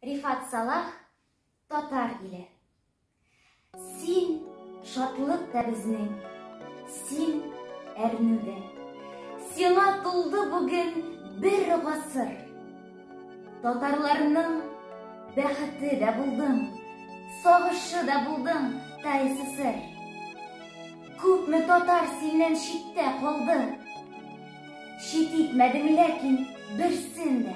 Рифат Салах, татар иле. Син шатлык та безнең, син әрнүдә. Сиңа тулды бүген бер гасыр. Татарларның бәхете дә булдың, сагышы да булдың, тайсысыр. Күпме татар синнән читтә калды. Чит итмәдең ләкин берсен дә.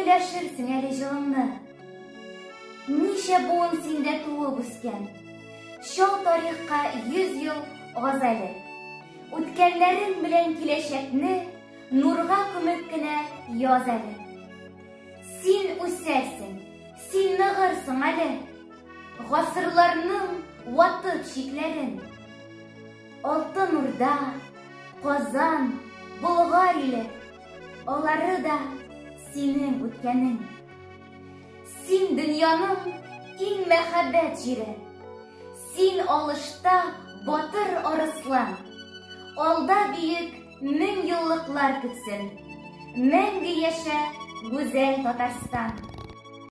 Өләшерсең әле җылыңны. Ничә буын синдә туып үскән. Чал тарихка йөз ел аз әле. Үткәннәрең белән киләчәкне нурга күмеп кенә яз әле. Син үсәрсең, син ныгырсың әле. Гасырларның ватып чикләрен. Алтын Урда, Казан, Болгар иле. Алары да синең үткәнең. Син дөньяның иң мәхәббәт җире. Син алышта батыр арыслан. Алда биек мең еллыклар көтсен. Мәңге яшә гүзәл Татарстан.